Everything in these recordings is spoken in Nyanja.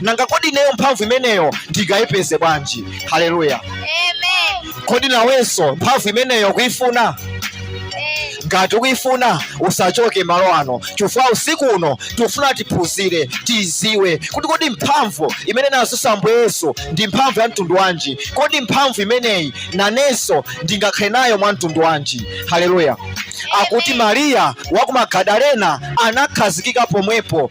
nanga kodi ineyo mphamvu imeneyo ndingayipeze bwanji haleluya Amen. kodi nawenso mphamvu imeneyo kuifuna Eh, ngati ukuifuna usachoke malo ano chifukwa usiku uno tikufuna tiphunzire tiiziwe kuti kodi mphamvu imene anazutsa ambuye yesu ndi mphamvu ya mtundu wanji kodi mphamvu imeneyi nanenso ndingakhale nayo mwa mtundu wanji haleluya akuti mariya wa ku magadalena anakhazikika pomwepo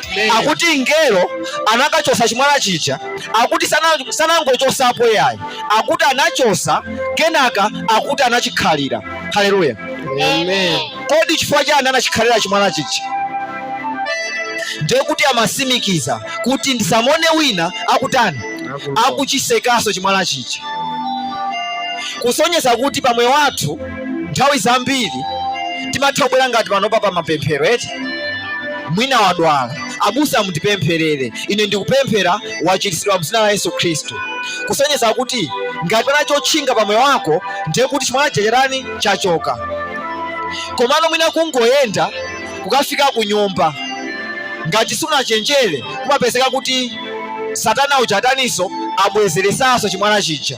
akuti mngelo anakachosa chimwala chija akuti sanangochosapo yayi akuti anachosa kenaka akuti anachikhalira haleluya kodi chifukwa chani anachikhalira chimwala chija ndekuti amasimikiza kuti ndisamone wina akutani akachisekaso chimwala chija kusonyeza kuti pamwe wathu nthawi zambiri timatha kubwera ngati panopa pa mapemphero eti mwina wadwala abusa mundipempherere ine ndikupemphera wachiritsidwa mzina la yesu khristu kusonyeza kuti ngati pana chotchinga pa moyo wako ndiye kuti chimwala chija chatani chachoka komano mwina kungoyenda kukafika ku nyumba ngati sunachenjere kumapezeka kuti satana uja ataniso abwezeresanso chimwala chija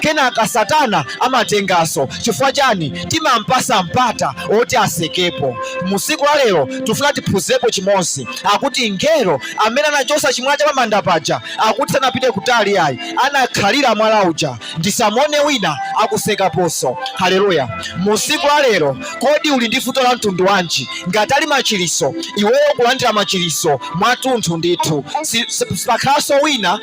kenaka satana amatengaso chifukwa chani timampasa mpata oti asekepo musiku la lero tifuna tiphunzepo chimozi akuti ngelo amene anachosa chimwala cha pamanda paja akuti sanapite kutali ayi anakhalira mwala uja ndisamone wina akasekaponso haleluya musiku la lero kodi uli ndi vuto la mtundu wanji ngati ali machiritso iweyo ukulandira machiritso mwatunthu ndithu sipakhalanso wina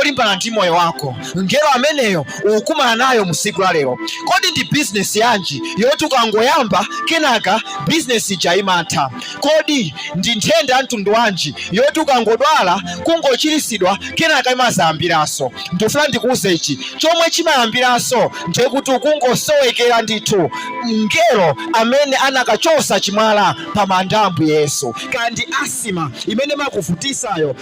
olimbana ndi moyo wako mngelo ameneyo ukumana nayo musiku la lero kodi ndi bizinesi yanji yoti ukangoyamba kenaka bizinesi ija imatha kodi ndi nthenda ya mtundu wanji yoti ukangodwala kungochiritsidwa kenaka imazayambiranso ndifuna ndikuuze ichi chomwe chimayambiranso ndi chakuti ukungosowekera ndithu mngelo amene anakachosa chimwala pa manda a ambuye yesu kandi asima imene imakuvutisayo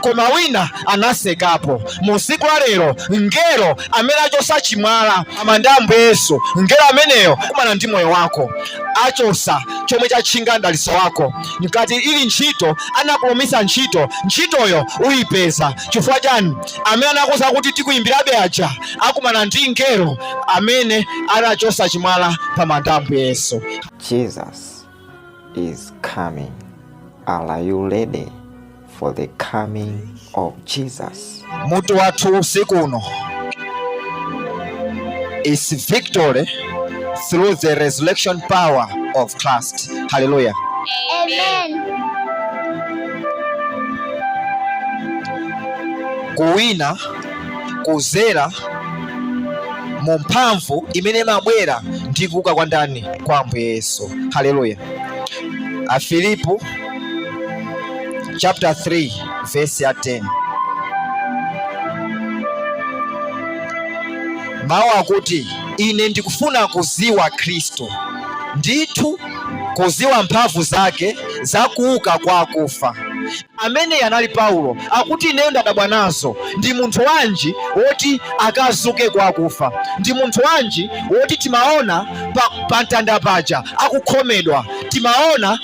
koma wina anasekapo. Mu siku la lero, mngelo amene achosa chimwala pa manda a Ambuye Yesu, mngelo ameneyo akumana ndi moyo wako, achosa chomwe chatchinga mdalitso wako. Ngati ili ntchito anakulonjeza ntchito, ntchitoyo uyipeza. Chifukwa chani? Amene anakuuza kuti tikuyimbirabe aja akumana ndi mngelo amene anachosa chimwala pa manda a Ambuye Yesu. Jesus is coming. Are you ready? for the coming of Jesus. Mutu wathu usiku uno is victory through the resurrection power of Christ. Hallelujah. Amen. Kuwina kuzera mu mphamvu imene imabwera ndi kuuka kwa ndani kwa Ambuye Yesu. Hallelujah. Afilipo chapter 3 verse ya 10 mawu akuti ine ndikufuna kuziwa khristu ndithu kuziwa mphamvu zake za kuuka kwa akufa ameneyu anali paulo akuti ineyo ndadabwa nazo ndi munthu wanji woti akazuke kwa akufa ndi munthu wanji woti timaona pa, pa mtanda paja akukhomedwa timaona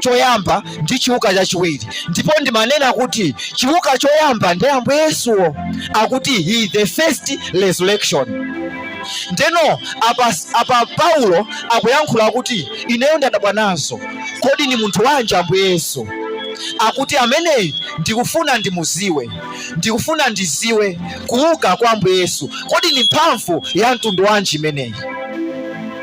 choyamba ndi chiuka chachiwiri ndipo ndimanena kuti chiuka choyamba ndi ambuye yesuwo akuti he is the first resurrection ndeno apa, apa paulo akuyankhula kuti ineyo ndadabwa nazo kodi ni munthu wanji ambuye yesu akuti ameneyi ndikufuna ndimuziwe ndikufuna ndiziwe kuuka kwa ambuye yesu kodi ni mphamvu ya mtundu wanji imeneyi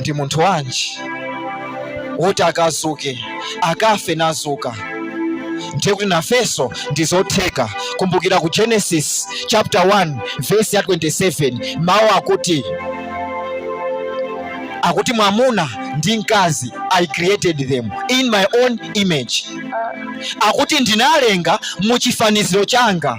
ndi munthu wanji woti akazuke akafe nazuka ndiye kuti nafenso ndizotheka kumbukira ku genesis chapter 1 verse ya 27 mawu akuti akuti mwamuna ndi mkazi i created them in my own image akuti ndinalenga mu chifaniziro changa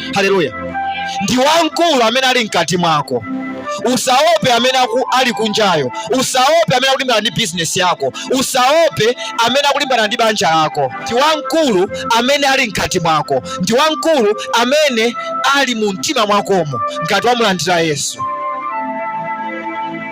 Haleluya! Ndi wamkulu amene ali mkati mwako. Usaope amene ali kunjayo, usaope amene akulimbana ndi bizinesi yako, usaope amene akulimbana ndi banja lako. Ndi wamkulu amene ali mkati mwako, ndi wamkulu amene ali mu mtima mwakomo, ngati wamulandira Yesu.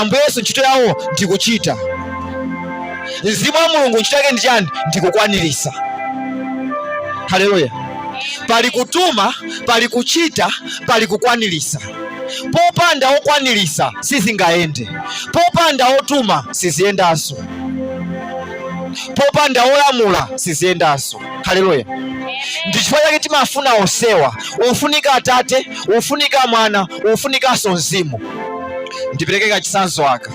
ambuye yesu ntchito yawo ndikuchita mzimu wa mulungu ntchito yake ndi chani ndikukwanirisa haleluya pali kutuma pali kuchita pali kukwanirisa popanda wokwanirisa sizingayende popanda wotuma siziyendanso popanda wolamula siziyendanso haleluya ndichifukwa chake timafuna onsewa ofunika atate ofunika mwana ofunikanso mzimu ndipereke kachisanzo aka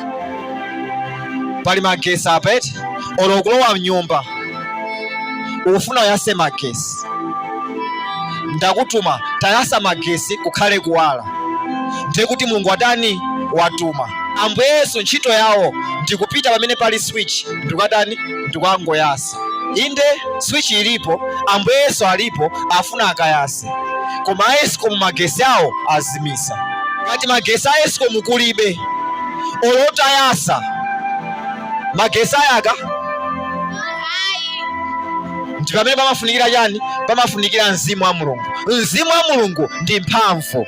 pali magesi apa eti olo kulowa mnyumba ufuna uyase magesi ndakutuma tayasa magesi kukhale kuwala ndiye kuti mulungu watani watuma ambuye yesu ntchito yawo ndikupita pamene pali switch ndikukatani ndikukangoyasa inde switch ilipo ambuye yesu alipo afuna akayase koma a escom magesi awo azimisa ngati magesi a escom kulibe olo utayasa magesi ayaka ndi pamene pamafunikira chani pamafunikira mzimu wa mulungu mzimu wa mulungu ndi mphamvu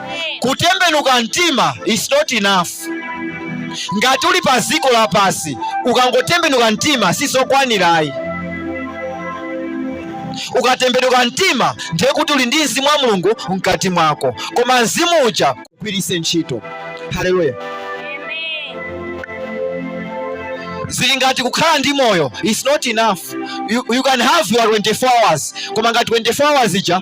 Kutembenuka mtima is not enough. Ngati uli pa ziko la pasi ukangotembenuka mtima sizokwanira ayi. Ukatembenuka mtima ndiye kuti uli ndi mzimu wa Mulungu mkati mwako, koma mzimu uja ugwiritse ntchito. Haleluya! zili ngati kukhala ndi moyo is not enough. You, you can have your 24 hours koma ngati 24 hours ija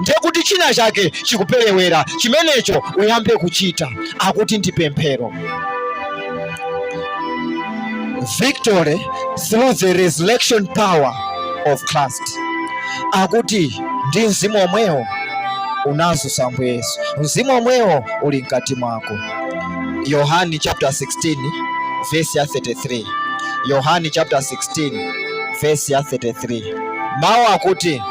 ndiye kuti china chake chikuperewera chimenecho uyambe kuchita akuti ndi pemphero victory through the resurrection power of christ akuti ndi mzimu omwewo unazutsa ambuye yesu mzimu omwewo uli mkati mwako yohani chapter 16 verse ya 33 yohani chapter 16 verse ya 33 Mawu akuti,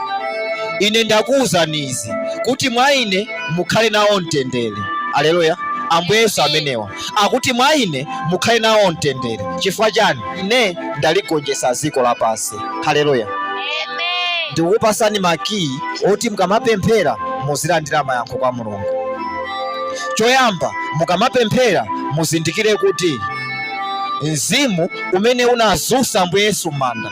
Ine ndakuwuzani izi kuti mwa Ine mukhale nawo mtendere. Aleluya! Ambuye Yesu amenewa akuti, mwa Ine mukhale nawo mtendere. Chifukwa chani? Ine ndaligonjetsa dziko lapansi. Aleluya! Ndikukupasani makiyi oti mukamapemphera muzilandira mayankho kwa Mulungu. Choyamba, mukamapemphera muzindikire kuti mzimu umene unazutsa Ambuye Yesu m'manda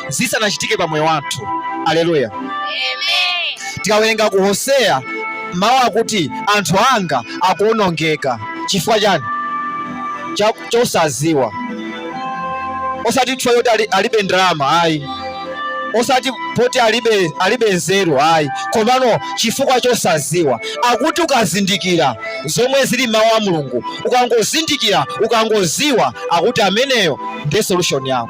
zisanachitike pa moyo wathu. Aleluya. Tikawerenga ku Hoseya mawu akuti anthu anga akuonongeka chifukwa chani? Cha- Chosaziwa, osati chifukwa choti ali- alibe ndalama ayi, osati poti alibe alibe nzeru ayi, komano chifukwa chosaziwa. Akuti ukazindikira zomwe zili m'mawu a Mulungu, ukangozindikira, ukangoziwa, akuti ameneyo ndiye solution yako.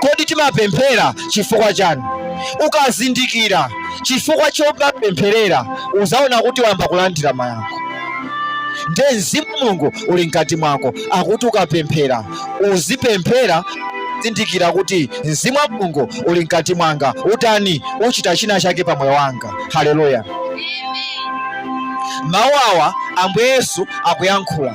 Kodi timapemphera chifukwa chani? Ukazindikira chifukwa chomapempherera uzaona kuti wayamba kulandira mayankho. Nde mzimu Mulungu uli mkati mwako akuti ukapemphera uzipemphera kuzindikira kuti mzimu wa Mulungu uli mkati mwanga utani uchita china chake pa moyo wanga. Haleluya! Mawu awa Ambuye Yesu akuyankhula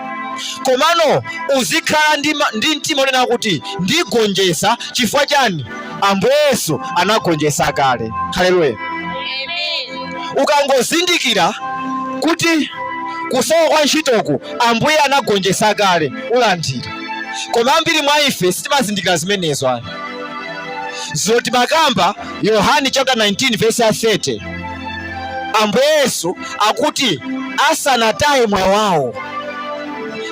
komano uzikhala ndi, ma- ndi mtima wonena kuti ndigonjesa chifukwa chani ambuye yesu anagonjesa kale haleluya ukangozindikira kuti kusowa kwa ntchitoku ambuye anagonjesa kale ulandira koma ambiri mwa ife sitimazindikira zimenezo ayi zoti makamba yohani chapter 19 verse ya 30 ambuye yesu akuti asanataye moyo wawo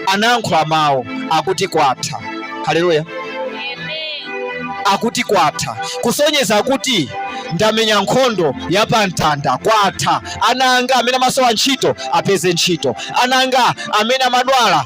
anayankhula mawu akuti kwatha. Haleluya, akuti kwatha, kusonyeza kuti ndamenya nkhondo ya pamtanda kwatha. Ana anga amene amasowa ntchito apeze ntchito, ana anga amene amadwala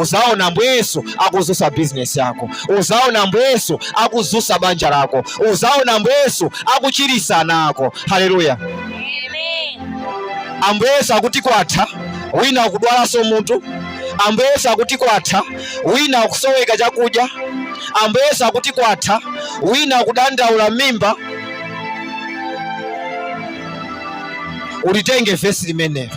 uzaona ambuye yesu akuzusa bizinesi yako uzaona ambuye yesu akuzusa banja lako uzaona ambuye yesu akuchirisa ana ako haleluya ambuye yesu akuti kwatha wina akudwalanso mutu ambuye yesu akuti kwatha wina akusoweka chakudya ambuye yesu akuti kwatha wina akudandaula mmimba ulitenge vesi limenelo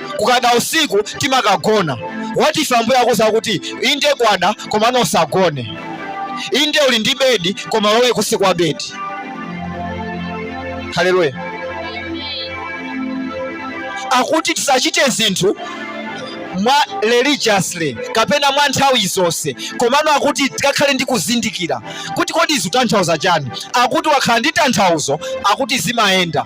kukada usiku timakagona what if ambuye akuuza kuti inde kwada komano usagone inde uli ndi bedi koma ulowe kusi kwa bedi haleluya akuti tisachite zinthu mwa religiously kapena mwa nthawi zonse komano akuti tikakhale ndi kuzindikira kuti kodi zitanthauza chani akuti wakhala ndi tanthauzo akuti zimayenda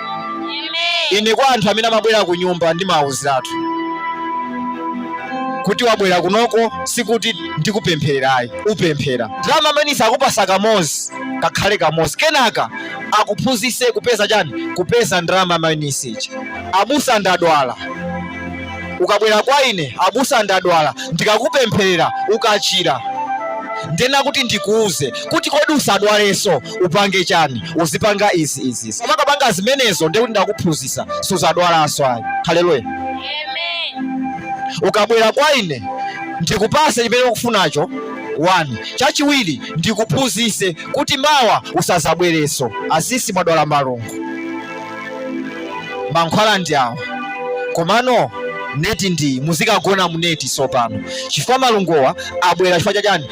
Ine kwa anthu amene amabwera ku nyumba ndimawawuziratu kuti wabwera kunoko sikuti ndikupemphererayi upemphera ndalama amenewo akupasa kamozi kakhale kamozi kenaka akuphunzise kupeza chani kupeza ndalama amainisichi abusa ndadwala ukabwera kwa ine abusa ndadwala ndikakupempherera ukachira ndiyenera kuti ndikuuze kuti kodi usadwalenso upange chani uzipanga izi izi izi umakapanga zimenezo ndiye kuti ndakuphunzitsa suzadwalanso ayi haleluya ukabwera kwa ine ndikupase chimene ukufunacho wani chachiwiri ndikuphunzitse kuti mawa usazabwereso asisi mwadwala malungu mankhwala ndi awa komano neti ndi iyi muzikagona muneti sopano chifukwa malunguwa abwera chifukwa chachani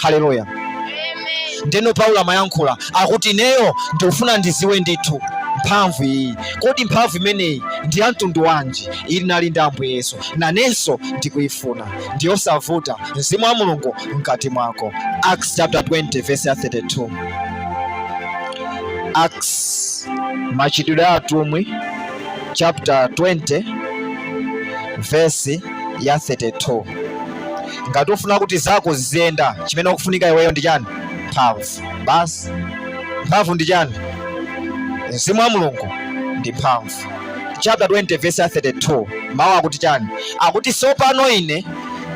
haleluya ndeno paulo amayankhula akuti ineyo ndikufuna ndiziwe ndithu mphamvu iyi kodi mphamvu imeneyi ndi ya mtundu wanji ili nali ndi ambuye yesu nanenso ndikuyifuna ndiyosavuta mzimu wa mulungu mkati mwako acts chapter 20 verse ya 32 acts machitidwe a atumwi chapter 20 verse ya 32 ngati ufuna kuti zako ziziyenda chimene ukufunika iweyo ndi chani mphamvu basi mphamvu ndi chani mzimu wa mulungu ndi mphamvu chapter 20 verse 32 mawu akuti chani akuti sopano ine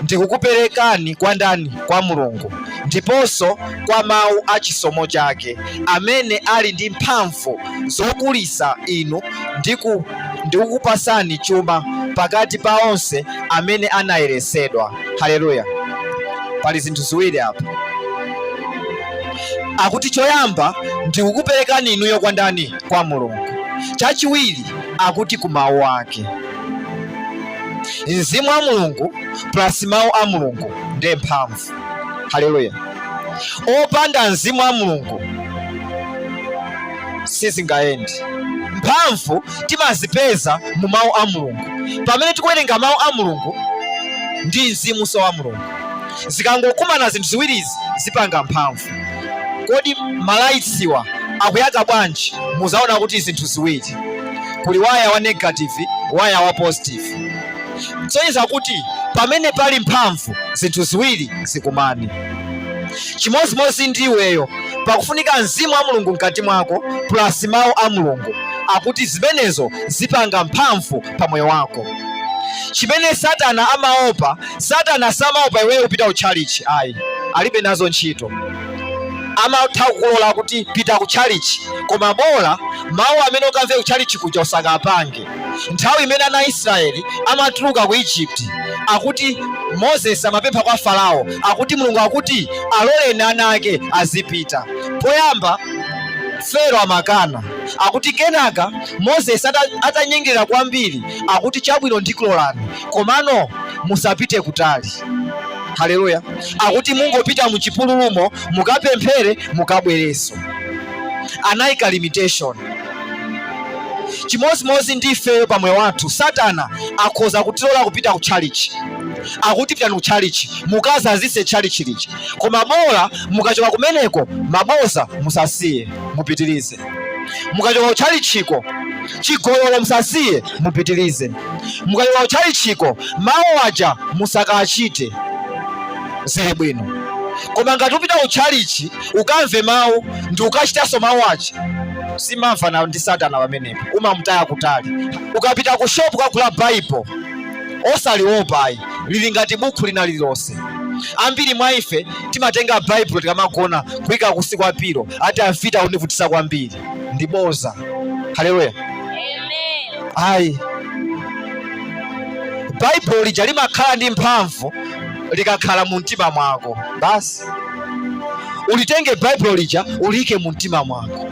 ndikukuperekani kwa ndani kwa mulungu ndiponso kwa mawu a chisomo chake amene ali ndi mphamvu zokulisa inu ndi ku ndikukupasani chuma pakati pa onse amene anayeresedwa. Haleluya! Pali zinthu ziwiri apa, akuti choyamba ndikukuperekani inuyo kwa ndani? Kwa Mulungu. Chachiwiri akuti ku mawu ake, mzimu wa Mulungu plus mawu a Mulungu ndiye mphamvu. Haleluya! opanda mzimu wa Mulungu sizingayende mphamvu timazipeza mu mawu a mulungu pamene tikuwerenga mawu a mulungu ndi mzimunso wa mulungu zikangokumana zinthu ziwirizi zipanga mphamvu kodi malayitsiwa akuyaka bwanji muzaona kuti zinthu ziwiri kuli waya wa negative waya wa positive kusonyeza kuti pamene pali mphamvu zinthu ziwiri zikumane chimodzimodzi ndi iweyo pakufunika mzimu wa mulungu mkati mwako plus mawu a mulungu akuti zimenezo zipanga mphamvu pa moyo wako chimene satana amaopa satana samaopa iweyo kupita ku tchalitchi ayi alibe nazo ntchito amatha kukulola kuti pita ku tchalitchi koma bola mawu amene ukamve ku tchalitchi kuja usakapange nthawi imene ana a Israeli amatuluka ku Egypt akuti Moses amapempha kwa Farao akuti Mulungu akuti aloleni ana ake azipita poyamba Pharaoh amakana akuti kenaka Moses atanyengerera kwambiri akuti chabwino ndikulolani komano musapite kutali haleluya akuti mungopita muchipululumo mukapemphere mukabwereso anayika limitation chimodzimodzi ndi ifeyo pa moyo wathu satana akhoza kutilola kupita ku tchalitchi akuti pitani ku tchalitchi mukazazitse tchalitchi lija koma bola mukachoka kumeneko maboza musasiye mupitirize mukachoka ku tchalitchiko chigololo musasiye mupitirize mukachoka ku tchalitchiko mawu aja musakachite zili bwino koma ngati upita ku tchalitchi ukamve mawu ndi ukachitanso mawu ache simamvana ndi satana pamenepo umamutaya kutali ukapita ku shopu kukagula baibulo osaliopa ayi lili ngati bukhu lina lililonse ambiri mwa ife timatenga baibulo tikamagona kuyika kunsi kwa pilo ati amfiti akundivutisa kwambiri ndi boza haleluya ayi baibulo lija limakhala ndi mphamvu likakhala mu mtima mwako basi ulitenge baibulo lija uliyike mu mtima mwako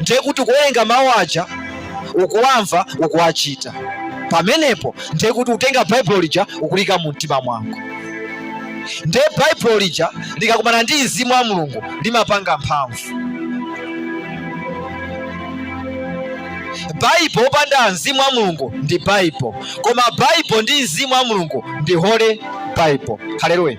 ndiye kuti ukuwerenga mawu aja ukuwamva ukuwachita pamenepo ndiye kuti utenga baibulo lija ukuliika mu mtima mwako ndiye baibulo lija likakumana ndi mzimu wa mulungu limapanga mphamvu baibo opanda mzimu wa mulungu ndi baibo koma baibo ndi mzimu wa mulungu ndi holy bible haleluya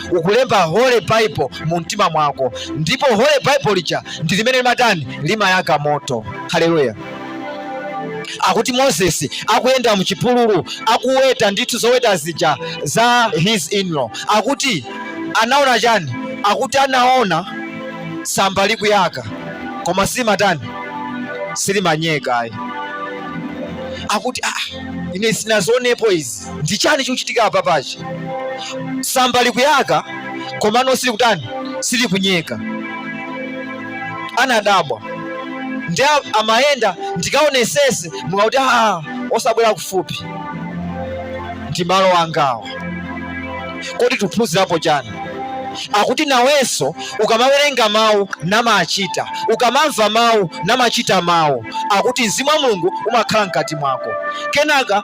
ukulemba Holy Bible mu mtima mwako, ndipo Holy Bible lija ndi limene limatani limayaka moto. Haleluya! akuti moses akuyenda muchipululu akuweta ndithu zoweta zija za his inlaw akuti anaona chani akuti anaona tsamba likuyaka koma silimatani silimanyeka ayi akuti ah, ine sinazionepo izi ndi chani chikuchitika apapachi tsamba likuyaka komano silikutani silikunyeka anadabwa ndiye amayenda ndikaonesese mulungu akuti aa osabwera kufupi ndi malo angawa kodi tiphunzirapo chani akuti nawenso ukamawerenga mawu namachita ukamamva mawu namachita mawu akuti mzimu wa mulungu umakhala mkati mwako kenaka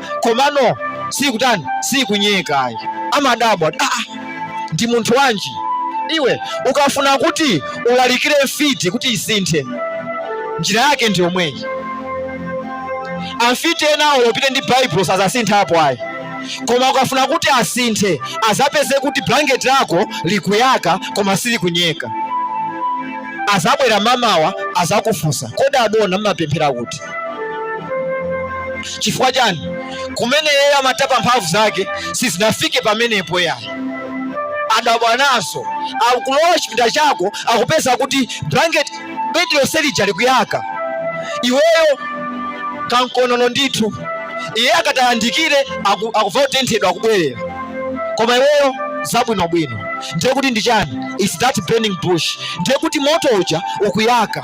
komano sikutani sikunyeka ayi amadabwa ah, ah, ndi munthu wanji iwe ukafuna kuti ulalikire mfiti kuti isinthe njira yake ndi yomweyi amfiti enawo olo upite ndi baibulo sazasinthapo ayi koma ukafuna kuti asinthe azapeze kuti blanketi lako likuyaka koma silikunyeka azabwera mamawa azakufunsa kodi adona mmapemphera kuti chifukwa chani kumene yeye amatapa mphamvu zake sizinafike pamenepo yayi adabwa nazo akulowa chipinda chako akupeza kuti blanket bedi lonse lija likuyaka iweyo kankonono ndithu iye akatayandikire akuva kutenthedwa akubwerera koma iweyo zabwinobwino ndiye kuti ndi chani its that burning bush ndiye kuti moto uja ukuyaka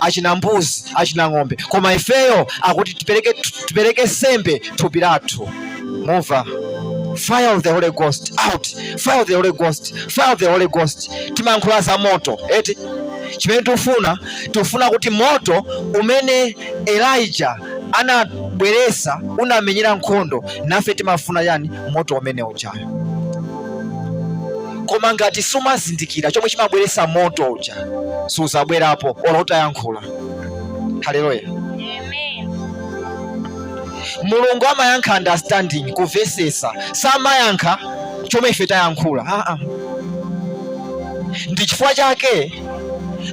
achina mbuzi achina ng'ombe koma ifeyo akuti tipereke sembe thupi lathu mumva fire of the holy ghost out fire of the holy ghost fire of the holy ghost timankhula za moto eti chimene tufuna tufuna kuti moto umene elijah anabweresa unamenyera nkhondo nafe timafuna yani moto umene ujayo koma ngati sumazindikira chomwe chimabweretsa moto uja suzabwerapo olo utayankhula haleluya mulungu amayankha understanding kumvesesa samayankha chomwe ife tayankhula ah, ah. ndi chifukwa chake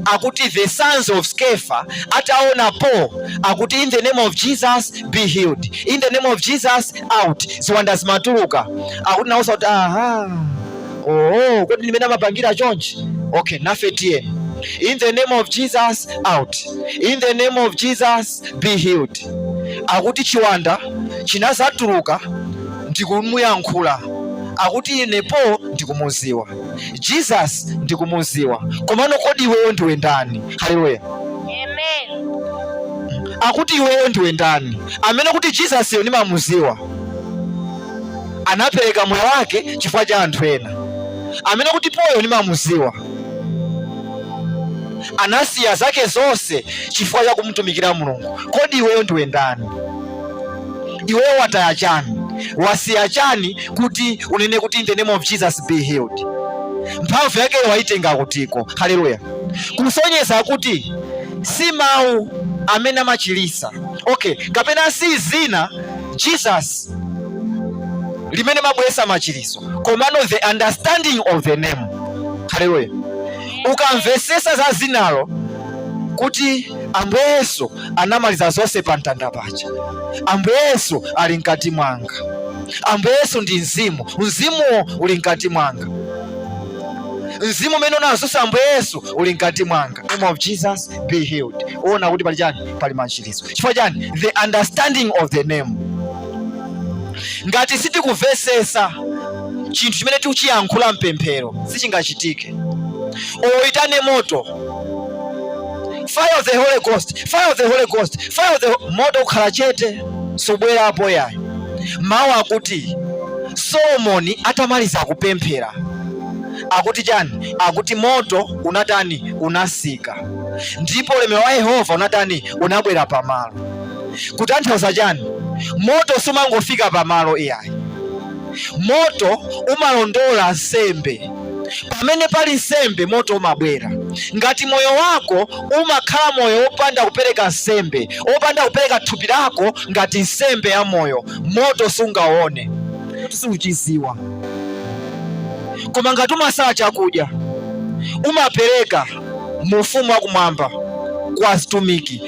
akuti the sons of sceva ataona paul akuti in the name of jesus be healed in the name of jesus out ziwanda zimatuluka akuti nawonso kuti aha oh kodi ndimene amapangira chonchi okay nafe tiyeni in the name of jesus out in the name of jesus be healed akuti chiwanda chinazatuluka ndikumuyankhula akuti ine paul ndikumuziwa jesus ndikumuziwa komano kodi iweyo ndiwe ndani haleluya Amen. akuti iweyo ndiwe ndani amene kuti jesus yo ndimamuziwa anapereka moyo wake chifukwa cha anthu ena amene kuti paul yo ndimamuziwa anasiya zake zonse chifukwa cha kumtumikira mulungu kodi iweyo ndiwe ndani iweyo wataya chani wasiya chani kuti unene kuti in the name of jesus be healed mphamvu yake waitenga kutiko haleluya kusonyeza kuti si mawu amene amachilisa okay kapena si zina jesus limene mabwesa machiliso komano the understanding of the name haleluya ukamvesesa za zinalo kuti ambuye yesu anamaliza zonse pa mtanda paja ambuye yesu ali mkati mwanga ambuye yesu ndi mzimu mzimuwo uli mkati mwanga mzimu umene unazusa ambuye yesu uli mkati mwanga name of jesus be healed uona kuti pali chani pali machiritso chifukwa chani the understanding of the name ngati sitikumvesesa chinthu chimene tikuchiyankhula mpemphero sichingachitike olo uitane moto fire of the holy ghost fire of the holy ghost fire of the moto ukhala chete subwerapo iyayi mawu akuti solomoni atamaliza kupemphera akuti chani akuti moto unatani unasika ndipo ulemerero wa yehova unatani unabwera pamalo kutanthauza chani moto sumangofika pamalo iyayi moto umalondola nsembe pamene pali nsembe moto umabwera ngati moyo wako umakhala moyo wopanda kupereka nsembe wopanda kupereka thupi lako ngati nsembe ya moyo moto sungaone suchiziwa koma ngati umasala chakudya umapereka mu ufumu wakumwamba kwa azitumiki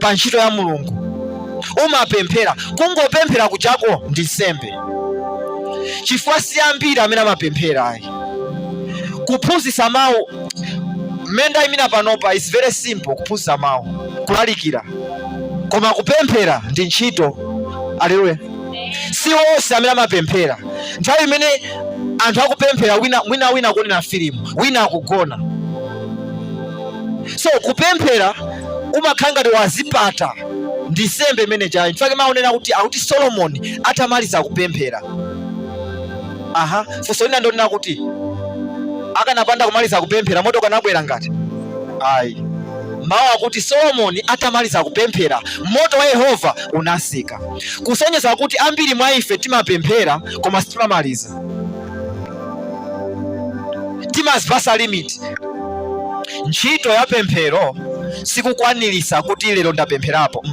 pa ntchito ya mulungu umapemphera kungopemphera kuchita'ko ndi nsembe chifukwa si ambiri amene amapemphera ayi kuphunzitsa mawu mmene ndayimira panopa is very simple kuphunzitsa mawu kulalikira koma kupemphera ndi ntchito aleluya si onse amene amapemphera nthawi imene anthu akupemphera wina wina wina akuonera filimu wina akugona so kupemphera umakhala ngati wazipata ndi nsembe imene ija chifukwa mawu anena kuti akuti solomoni atamaliza kupemphera aha funso lina ndi lonena kuti akanapanda kumaliza kupemphera moto ukanabwera ngati ayi mawu akuti solomoni atamaliza kupemphera moto wa yehova unasika kusonyeza kuti ambiri mwa ife timapemphera koma sitimamaliza, timazipasa limit. Ntchito ya pemphero sikukwaniritsa kuti lero ndapempherapo.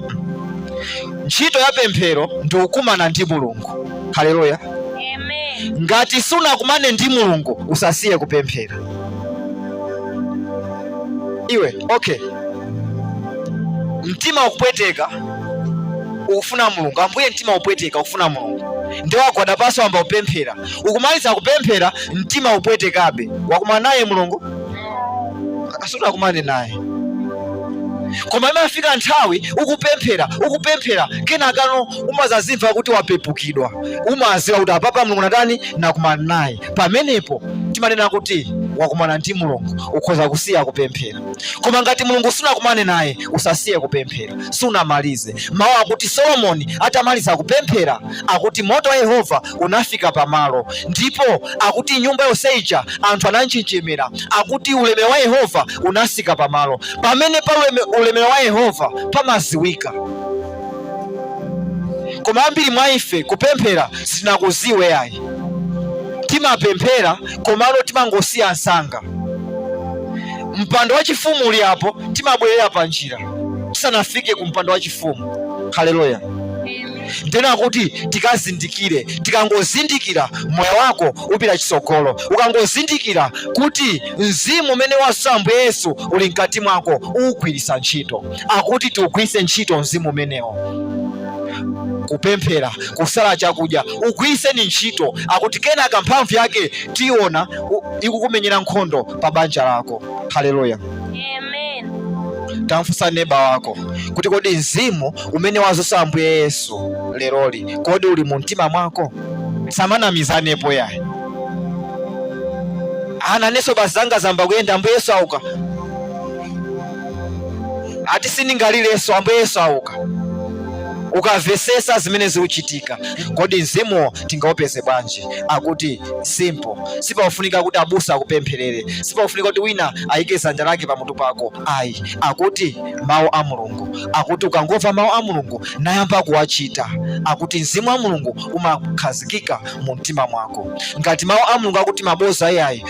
Ntchito ya pemphero ndi kukumana ndi Mulungu. Haleluya, amen. Ngati sunakumane ndi Mulungu usasiye kupemphera iwe. Okay, mtima ukupweteka ukufuna mulungu ambuye mtima upweteka ukufuna mulungu ndi wagwada pansi wayamba kupemphera ukumaliza kupemphera mtima upwetekabe wakumana naye mulungu sunakumane naye koma imafika nthawi ukupemphera ukupemphera kenakano umazazimva kuti wapepukidwa umaziwa kuti apapa mulungu natani nakumana naye pamenepo timanena kuti wakumana ndi mulungu ukhoza kusiya kupemphera koma ngati mulungu sunakumane naye usasiye kupemphera sunamalize mawu akuti solomoni atamaliza kupemphera akuti moto wa yehova unafika pamalo ndipo akuti nyumba yonse ija anthu ananjenjemera akuti ulemerero wa yehova unasika pamalo pamene pali uleme- ulemerero wa yehova pamaziwika koma ambiri mwa ife kupemphera sitinakuziwe ayi timapemphera komano timangosiya msanga mpando wachifumu uli apo timabwerera pa njira tisanafike ku mpando wachifumu haleluya ndena kuti tikazindikire tikangozindikira moyo wako upita chitsogolo ukangozindikira kuti mzimu umene wazutsa ambuye yesu uli mkati mwako uwugwiritse ntchito akuti tiugwiritse ntchito mzimu umenewo kupemphera kusala chakudya ugwiriseni ntchito akuti kenaka mphamvu yake tiona ikukumenyera nkhondo pa banja lako haleluya amen tamfunsa neba wako kuti kodi mzimu umene wazutsa ambuye yesu leroli kodi uli mu mtima mwako tisamanamizanepo yayi ana inenso basi zanga zayamba kuyenda ambuye yesu auka ati sindingalirenso ambuye yesu auka ukamvetsetsa zimene zikuchitika kodi mzimuwo tingaupeze bwanji akuti simple sipakufunika kuti abusa akupempherere sipakufunika kuti wina ayike dzanja lake pamutu pako ayi akuti mawu a mulungu akuti ukangomva mawu a mulungu nayamba kuwachita akuti mzimu wa mulungu umakhazikika mu mtima mwako ngati mawu a mulungu akuti mayi awa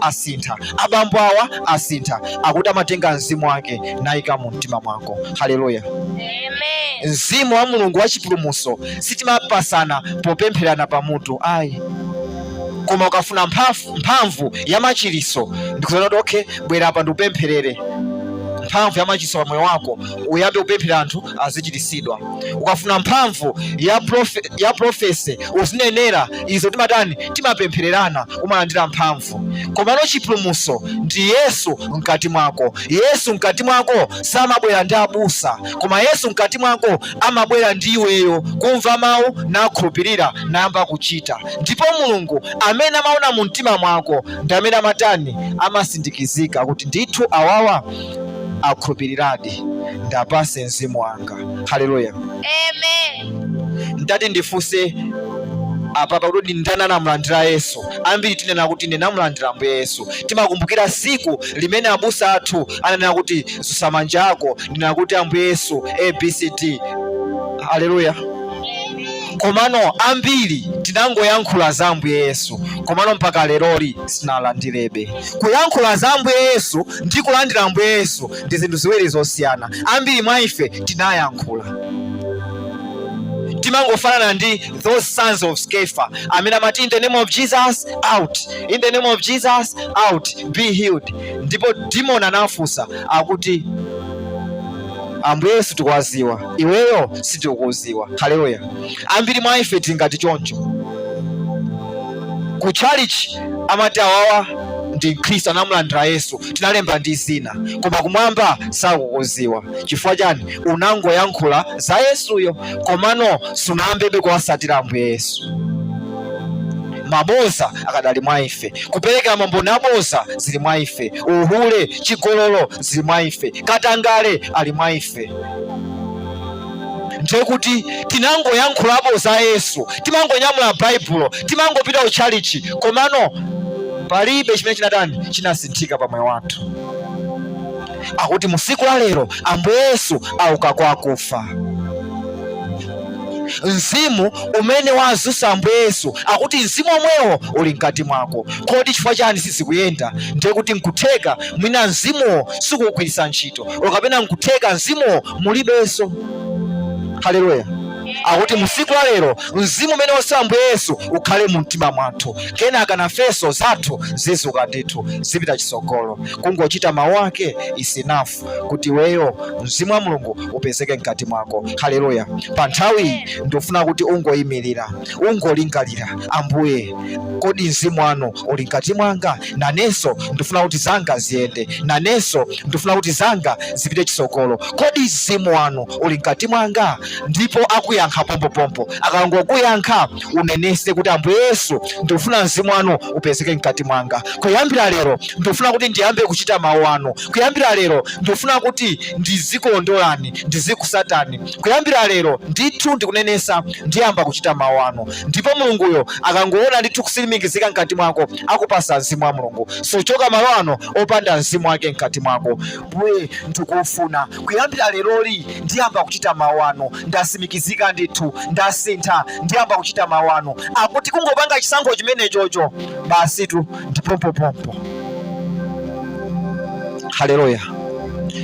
asintha abambo awa asintha akuti amatenga mzimu wake nayika mu mtima mwako haleluya mzimu wa mulungu wa chipulumutso sitimapatsana popempherana pamutu ayi koma ukafuna mphamvu ya machiritso ndikuuzana kuti okay bwera apa ndikupempherere mphamvu ya machiritso pa moyo wako uyambe kupemphera anthu azichiritsidwa ukafuna mphamvu ya profesi uzinenera izo timatani timapemphererana umalandira mphamvu komano chipulumutso ndi yesu mkati mwako yesu mkati mwako samabwera ndi abusa koma yesu mkati mwako amabwera ndi iweyo kumva mawu nakhulupirira nayamba kuchita ndipo mulungu amene amaona mu mtima mwako ndi amene amatani amatsimikizika kuti ndithu awawa akhulupiriradi ndiapatse mzimu wanga haleluya ndati ndifunse apapa kuti ndani anamulandira yesu ambiri tinena kuti ndinamulandira ambuye yesu timakumbukira tsiku limene abusa athu ananena kuti dzutsa manja ako ndi kunena kuti ambuye yesu abcd haleluya komano ambiri tinangoyankhula za ambuye yesu komano mpaka leroli sitinalandirebe kuyankhula za ambuye yesu ndi kulandira ambuye yesu ndi zinthu ziwiri zosiyana ambiri mwa ife tinayankhula timangofanana ndi those sons of sceva amene amati in the name of jesus out in the name of jesus out be healed ndipo demon anamfunsa akuti ambuye yesu tikuwadziwa iweyo sitikukudziwa haleluya ambiri mwa ife tili ngati choncho ku chalichi amati awawa ndi mkhristu anamulandira yesu tinalemba ndi zina koma kumwamba sakukuziwa chifukwa chani unangoyankhula za yesuyo komano sunayambebe kuwasatira ambuye yesu maboza akadali mwa ife kupereka mamboni aboza zili mwa ife uhule chigololo zili mwa ife katangale ali mwa ife ndiye kuti tinangoyankhulapo za yesu timangonyamula baibulo timangopita ku tchalichi komano palibe chimene chinatani chinasinthika pa moyo wathu akuti musiku la lero ambuye yesu auka kwa akufa mzimu umene wazusa ambuye yesu akuti mzimu omwewo uli mkati mwako kodi chifukwa chani sizikuyenda ndiye kuti nkutheka mwina mzimuwo sikugwiritsa ntchito kapena nkutheka mzimuwo mulibenso. Haleluya! Akuti mu siku la lero mzimu umene wazusa Ambuye Yesu ukhale mu mtima mwathu, kenaka nafenso zathu zizuka ndithu zipita chisogolo, kungochita mawu ake is enough kuti iweyo mzimu wa Mulungu upezeke mkati mwako. Haleluya! Pa nthawi ndikufuna kuti ungoyimirira, ungolingalira, Ambuye, kodi mzimu wanu uli mkati mwanga? nanenso ndifuna kuti zanga ziyende, nanenso ndifuna kuti zanga zipite chisogolo. Kodi mzimu wanu uli mkati mwanga? Ndipo akuyankha pompopompo. Akangokuyankha unenese kuti Ambuye Yesu, ndikufuna mzimu wanu upezeke mkati mwanga. Kuyambira lero ndikufuna kuti ndiyambe kuchita mawu anu. Kuyambira lero ndikufuna kuti ndizikulondolani, ndizikusatani. Kuyambira lero ndithu ndikunenesa ndiyamba kuchita mawu anu. Ndipo Mulunguyo akangoona ndithu kusimikizika mkati mwako akupasa mzimu wa mulungu suchoka malo ano opanda mzimu wake mkati mwako mbuye ndikufuna kuyambira leroli ndiyamba kuchita mawu anu ndasimikizika ndithu ndasintha ndiyamba kuchita mawu anu akuti kungopanga chisankho chimenechocho basitu ndipompopompo haleluya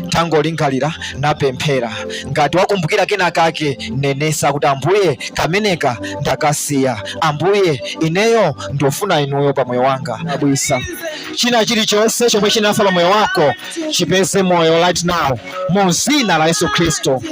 tangolingalira napemphera ngati wakumbukira kena kake nenesa kuti ambuye kameneka ndakasiya ambuye ineyo ndofuna inuyo pa moyo wanga abweza china chilichonse chomwe chinafa pa moyo wako chipeze moyo right now mu zina la yesu khristu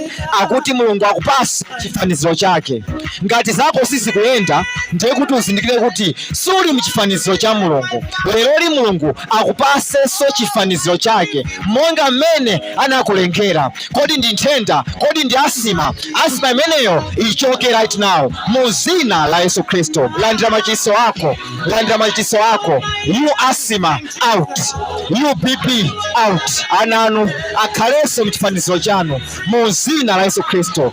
akuti mulungu akupase chifaniziro chake ngati zako sizikuyenda ndiye kuti uzindikire kuti suli mchifaniziro cha mulungu leroli mulungu akupasenso chifaniziro chake monga mmene anakulengera. Kodi ndi nthenda? Kodi ndi asima? Asima imeneyo ichoke right now mu zina la Yesu Kristo. Landira machiritso ako, landira machiritso ako. You asima out, you BP out. Ana anu akhalenso mchifaniziro chanu mu zina la Yesu Kristo.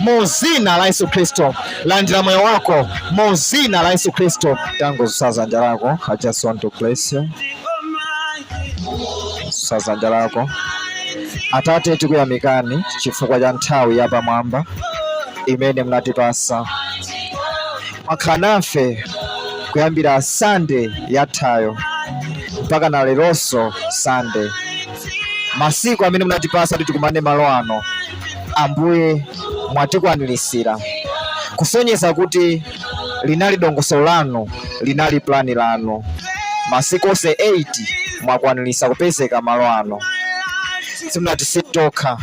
mu zina la Yesu Kristo. Landira moyo wako mu zina la Yesu Kristo. Tangosaza dzanja lako, I just want to bless you. Saza dzanja lako Atate, tikuyamikani chifukwa cha nthawi ya pamwamba imene mnatipasa mwakhala nafe kuyambira sande yathayo mpaka na leronso sande masiku amene munatipasa kuti tikumane malo ano Ambuye mwatikwaniritsira, kusonyeza kuti linali dongosolo lanu, linali pulani lanu. Masiku onse 8 mwakwaniritsa kupezeka malo ano, simunatisiye tokha,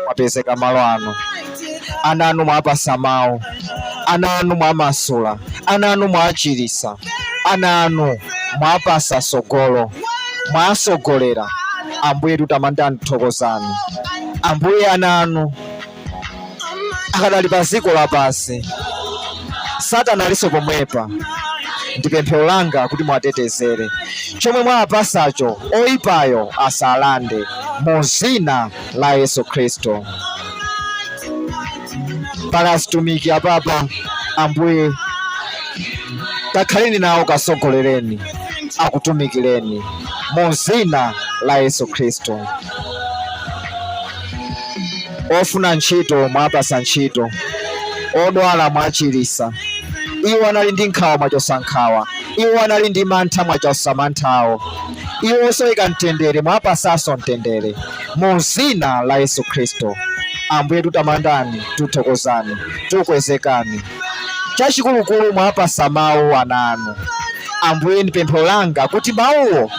mwapezeka malo ano. Ana anu mwapasa mawu, ana anu mwamasula, ana anu mwachiritsa, ana anu mwapasa sogolo, mwasogolera. Ambuye tutamandani, tuthokozani. Ambuye, ana anu akadali pa dziko lapansi, Satana alinso pomwepa. Ndi pemphero langa kuti muwatetezere, chomwe mwawapasacho oyipayo asalande, mu dzina la Yesu Khristu. pali azitumiki apapa ambuye kakhaleni nawo kasogolereni akutumikireni mu zina la yesu khristu ofuna ntchito mwapasa ntchito odwala mwachirisa iwo anali ndi nkhawa mwachosa nkhawa iwo anali ndi mantha mwachosa manthawo iwo osowa mtendere mwapasanso mtendere mu zina la Yesu Khristu. Ambuye, tutamandani, tuthokozani, tukwezekani. Chachikulukulu mwapasa mawu ana anu. Ambuye, ndi pemphero langa kuti mawuwo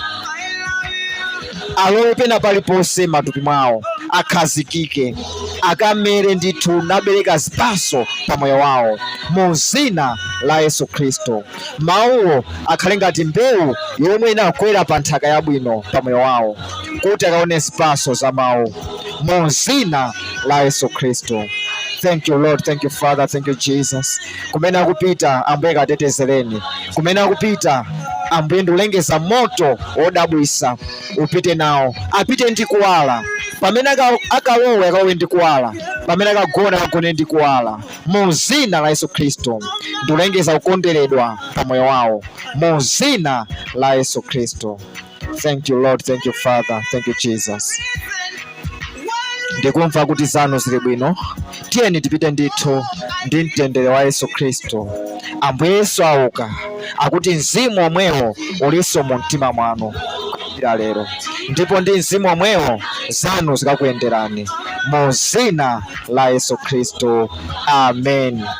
alowe pena paliponse matupi mwawo, akhazikike, akamere ndithu nabereka zipatso pa moyo wawo, mu zina la Yesu Khristu. Mawuwo akhale ngati mbewu yomwe inagwera pa nthaka yabwino pa moyo wawo, kuti akaone zipatso za mawu mu dzina la Yesu Khristu. Thank you Lord, thank you Father, thank you Jesus. Kumene akupita Ambuye katetezereni, kumene akupita Ambuye ndulengeza moto wodabwisa upite nawo, apite ndi kuwala pamene akalowe akalowe ndi kuwala, pamene akagona akagone ndi kuwala. mu zina la Yesu Kristo ndulengeza kukonderedwa pa moyo wawo mu zina la Yesu Kristo. Thank you Lord, thank you Father, thank you Jesus. Ndikumva kuti zanu zili bwino, tiyeni tipite ndithu ndi mtendere wa Yesu Kristo. Ambuye Yesu auka, akuti mzimu omwewo ulinso mu mtima mwanu. kuyambira lero ndipo ndi mzimu omwewo zanu zikakuyenderani mu dzina la yesu khristu amen